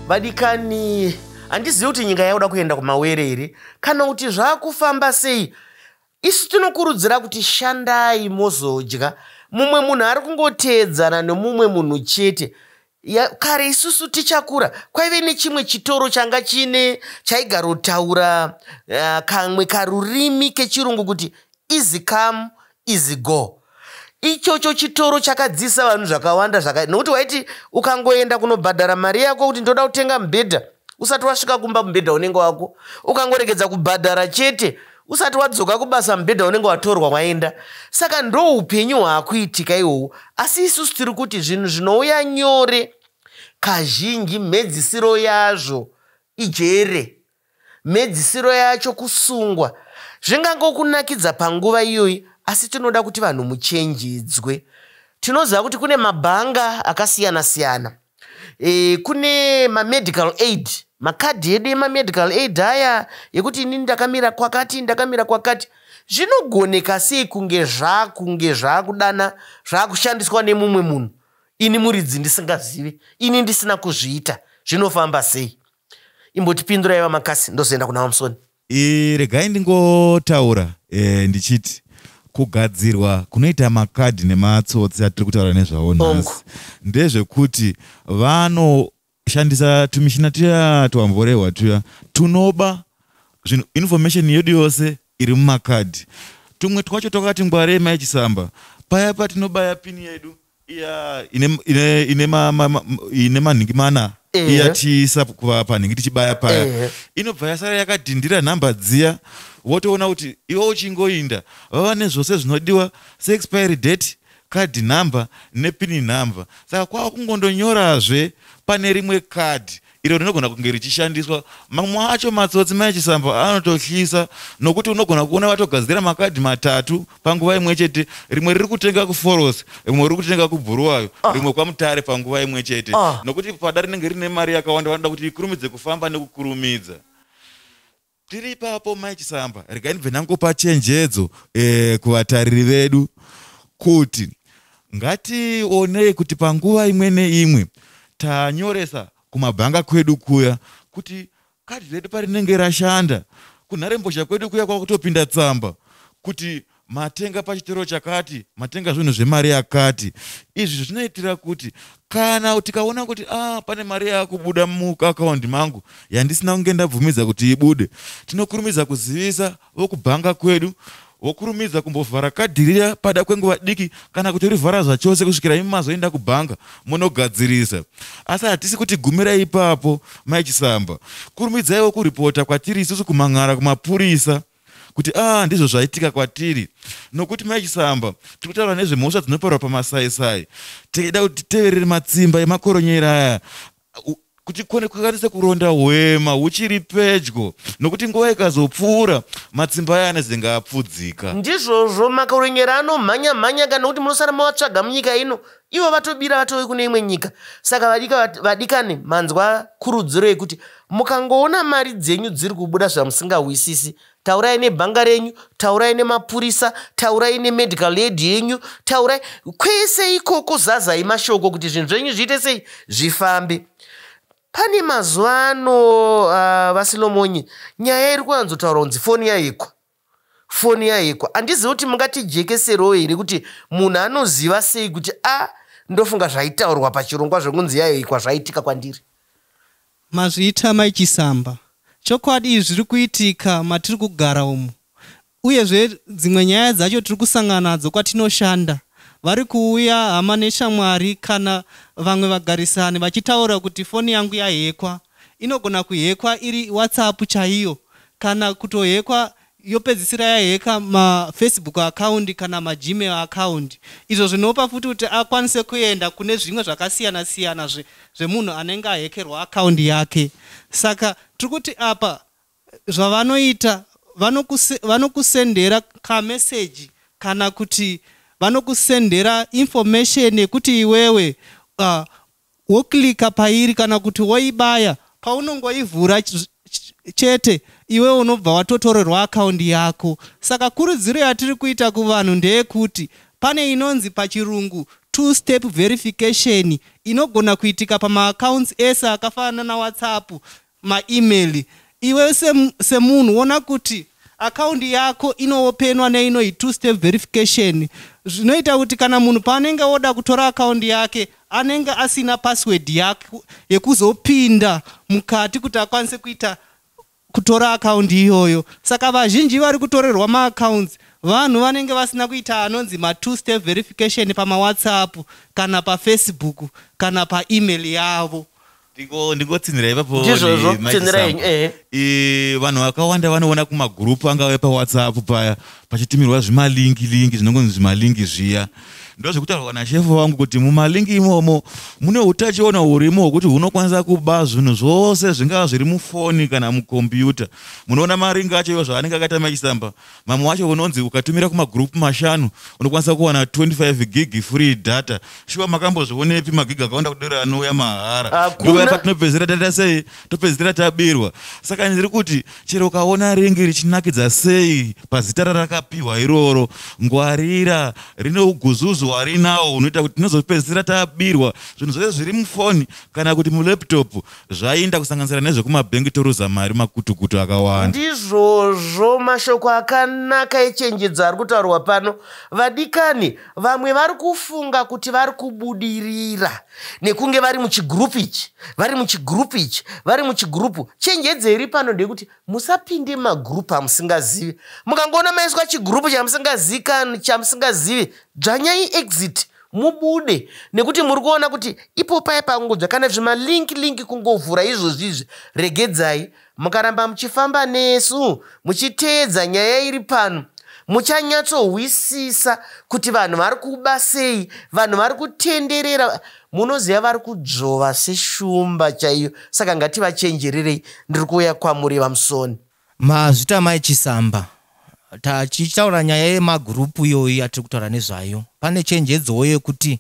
vadikani handizivi kuti nyika yakuda kuenda kumawere here kana kuti zvaakufamba sei isu tinokurudzira kuti shandai mozodya mumwe munhu ari kungoteedzana nomumwe munhu chete ya, kare isusu tichakura kwaive nechimwe chitoro changa chine chaigarotaura uh, kamwe karurimi kechirungu kuti easy come easy go ichocho chitoro chakadzisa vanhu zvakawanda zvaka nokuti waiti ukangoenda kunobhadhara mari yako kuti ndoda kutenga mubhedha usati wasvika kumba mubhedha unenge wako ukangoregedza kubhadhara chete usati wadzoka kubasa mubhedha unenge watorwa waenda saka ndo upenyu hwaakuitika ihowo asi isusu tiri kuti zvinhu zvinouya nyore kazhinji mhedzisiro yazvo ijere mhedzisiro yacho kusungwa zvingangokunakidza panguva iyoyi asi tinoda kuti vanhu muchenjedzwe tinoziva kuti kune mabhanga akasiyana siyana e, kune mamedical aid makadhi edu emamedical aid aya yekuti ini ndakamira kwakati ndakamira kwakati zvinogoneka sei kunge zvakunge zvakudana zvakushandiswa nemumwe munhu ini muridzi ndisingazive ini ndisina kuzviita zvinofamba sei imbotipindura iva makasi ndozoenda kuna vamusoni E, regai ndingotaura e, ndichiti kugadzirwa kunoita makadhi nematsotsi atiri kutaura nezvawo nhasi ndezvekuti vanoshandisa tumishina tuya twamvorehwa tuya tunoba zvinhu information yedu yose iri mumakadhi tumwe twacho twakati ngwarei maichisamba paya patinobaya pini yedu iya ine ine ine ma, ma, ma, ine manhingi mana Ehe. iya tiisa kuva panhingi tichibaya paya Ehe. inobva yasara yakadhindira nhamba dziya wotoona kuti iwe uchingoinda vava nezvose zvinodiwa seexpiry date card number nepini number saka kwava kungondonyorazve pane rimwe card iro rinogona kunge richishandiswa mamwe acho matsotsi mai chisambo anototyisa nokuti unogona kuona vatogadzira makadhi matatu panguva imwe chete rimwe riri kutenga kuforos rimwe riri kutenga kubhuruwayo ah. rimwe kwamutare panguva imwe chete ah. nokuti pada rinenge rine mari yakawanda vanoda kuti ikurumidze kufamba nekukurumidza Tiri ipapo Mai Chisamba, regai ndibve ndangopa chenjedzo eh, kuvatariri vedu kuti ngationei kuti panguva imwe neimwe tanyoresa kumabhanga kwedu kuya kuti kadhi redu parinenge rashanda kunharembozha kwedu kuya kwakutopinda tsamba kuti matenga pachitoro chakati matenga zvinhu zvemari yakati izvi zvinoitira kuti kana tikaona kuti ah, pane mari yakubuda muakaundi mangu yandisina kunge ndabvumidza kuti ibude tinokurumidza kuzivisa vokubhanga kwedu wokurumidza kumbovhara kadhirira pada kwenguva diki kana kuti rivhara zvachose kusvikira imi mazoenda kubhanga munogadzirisa asi hatisi kuti gumira ipapo maichisamba kurumidzaiwo kuripota kwatiri isusu kumhan'ara kumapurisa kuti a ah, ndizvo zvaitika kwatiri nokuti maichisamba tiri kutaura nezvemhosva dzinoparwa pamasaisai tikaida kuti titeverere matsimba emakoronyera aya kuti kone kukwanisa kuronda hwema huchiri pedyo nokuti nguva ikazopfuura matsimba aya anezenge apfudzika ndizvozvo makoronyera anomhanya mhanya kana kuti munosara mawatsvaga munyika ino ivo vatobira vatove kune imwe nyika saka vadika vadikane manzwa kurudziro yekuti mukangoona mari dzenyu dziri kubuda zvamusingahwisisi taurai nebhanga renyu taurai nemapurisa taurai nemedical aid yenyu taurai kwese ikoko zazai mashoko kuti zvinhu zvenyu zviite sei zvifambe pane mazuva ano uh, vasilomonyi nyaya iri kuwanzotaura kunzi foni yaikwa foni yaekwa handizivi kuti mungatijekeserewo here kuti munhu anoziva sei kuti a ah, ndofunga zvaitaurwa pachirongwa zvekunzi yaekwa zvaitika kwandiri mazviita mai chisamba chokwadi izvi zviri kuitika matiri kugara umu uyezve dzimwe nyaya dzacho tiri kusangana nadzo kwatinoshanda vari kuuya hama neshamwari kana vamwe vagarisani vachitaura kuti foni yangu yahekwa inogona kuhekwa iri whatsapp chaiyo kana kutohekwa yopedzisira yaheka mafacebook account kana magmail account izvo zvinopa futi kuti akwanise kuenda kune zvimwe zvakasiyana siyana zvemunhu anenge ahekerwa account yake saka tiri kuti apa zvavanoita vanokusendera kameseji kana kuti vanokusendera information yekuti iwewe uh, woklika pairi kana kuti woibaya paunongoivhura chete iwe unobva watotorerwa akaundi yako saka kurudziro yatiri kuita kuvanhu ndeyekuti pane inonzi pachirungu two step verification inogona kuitika pamaaccounts ese akafanana nawhatsapp maemail iwe semunhu sem wona kuti akaundi yako inoopenwa neinoi two step verification zvinoita kuti kana munhu paanenge oda kutora akaundi yake anenge asina password yake yekuzopinda mukati kuti akwanise kuita kutora akaundi iyoyo saka vazhinji vari kutorerwa maaccounts vanhu vanenge vasina kuita anonzi matwo step verification pamawhatsapp kana pafacebook kana paemail yavo ndingotsinhira ipapo ndizvozvo tsinhira yenyu ehe eh, vanhu vakawanda vanoona kumagurupu angave pawhatsapp paya pachitumirwa zvimalingi lingi zvinongonzi zvimalingi zviya ndo zvekutaurwa nashefu vangu kuti mumalingi imomo mune utachiona hurimo hwekuti hunokwanisa kuba zvinhu zvose zvingava zviri mufoni kana mukombiyuta munoona maringi acho iyo zvaanenge akaita mechisamba vamwe wacho unonzi ukatumira kumagroup mashanu unokwanisa kuwana 25 gig free data shuwa makambozvionepi magig akawanda kudero anouya mahara ndoyapa tinopedzisira taita sei topedzisira tabirwa saka ndiri kuti chero ukaona ringi richinakidza sei pazita rarakapiwa iroro ngwarira rine uguzuzu hwarinawo unoita kuti tinozopedzisira tabirwa zvinhu zvose zviri mufoni kana kuti mulaptop zvainda kusanganisira nezvekumabhengi toruza mari makutukutu akawanda ndizvozvo mashoko akanaka echenjedzo ari kutaurwa pano vadikani vamwe vari kufunga kuti vari kubudirira nekunge vari muchigrupu ichi vari muchigrupu ichi vari muchigrupu chenjedzo iri pano ndeyekuti musapinde magrupu amusingazivi mukangoona maiswa chigrupu chamusingazivi dzvanyai exit mubude nekuti muri kuona kuti ipo paye pangodzva kana zvimalink link kungovhura izvozvi izvi regedzai mukaramba muchifamba nesu muchiteedza nyaya iri pano muchanyatsohwisisa kuti vanhu vari kuba sei vanhu vari kutenderera munoziva vari kudzvova seshumba chaiyo saka ngativachenjererei ndiri kuuya kwamuri vamusoni Mazvita mai Chisamba tachitaura nyaya yemagroup iyoyo yatiri kutaura nezvayo pane chenjedzowo yekuti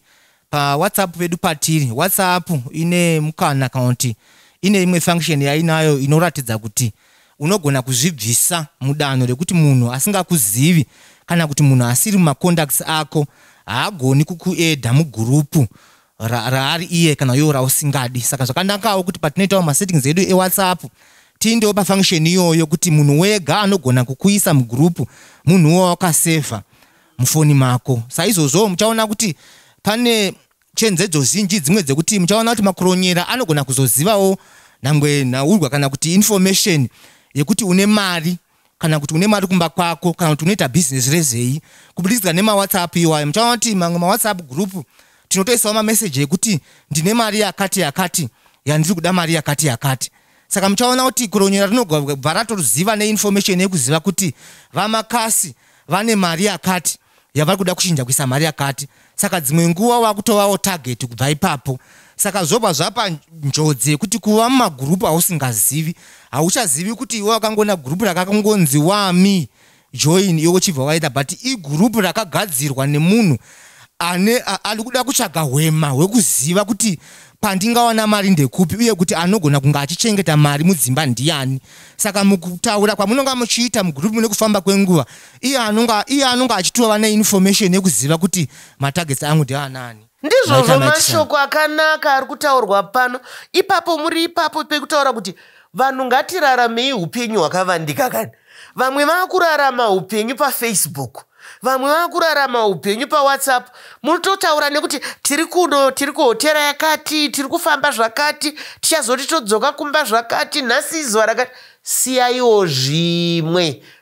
pawhatsapp pedu patiri whatsapp ine mukana kana kuti ine imwe function yainayo inoratidza kuti unogona kuzvibvisa mudanho rekuti munhu asingakuzivi kana kuti munhu asiri mumacontacts ako haagoni kukuedha mugurupu raari ra, iye kana iwo rausingadi saka zvakanakawo kuti patinoitawo masettings edu ewhatsapp tiindewo pafunction iyoyo kuti munhu wega anogona kukuisa mugroup munhu wo wakasevha mufoni mako saizvozvowo muchaona kuti pane chenzedzo zhinji dzimwe dzekuti muchaona kuti makuronyera anogona kuzozivawo nyangwe nhaurwa kana kuti information yekuti une mari kana kuti une mari kumba kwako kana kuti unoita bhizinesi rezei kubudikidza nemawhatsapp iwayo muchaona kuti mamwe mawhatsapp group tinotoisawo mameseji ekuti ndine mari yakati yakati yandiri kuda mari yakati yakati saka muchaona kuti kuronyera rinobva ratoziva neinformation yekuziva kuti vamakasi vane mari yakati yavari kuda kuchinja kuisa mari yakati saka dzimwe nguva vakutovawo target kubva ipapo saka zvobva zvapa njodzi yekuti kuva mumagurupu ausingazivi hauchazivi kuti iwe wakangoona gurupu rakakangonzi wami join iwe uchibva waita but igurupu rakagadzirwa nemunhu ane ari kuda kutsvaga hwema hwekuziva kuti pandingawana mari ndekupi uye kuti anogona kunge achichengeta mari mudzimba ndiyani saka mukutaura kwamunonga muchiita mugurupu nekufamba kwenguva iye anonga iye anonga achitova neinformation yekuziva kuti matargets angu ndeanani ndizvozvo mashoko akanaka ari kutaurwa pano ipapo muri ipapo pekutaura kuti vanhu ngatiraramei upenyu hwakavandika kani vamwe vakurarama upenyu pafacebook vamwe vakurarama upenyu pawhatsapp munototaura nekuti tiri kuno tiri kuhotera yakati tiri kufamba zvakati tichazoti todzoka kumba zvakati nhasi izuva rakati siyaiwo zvimwe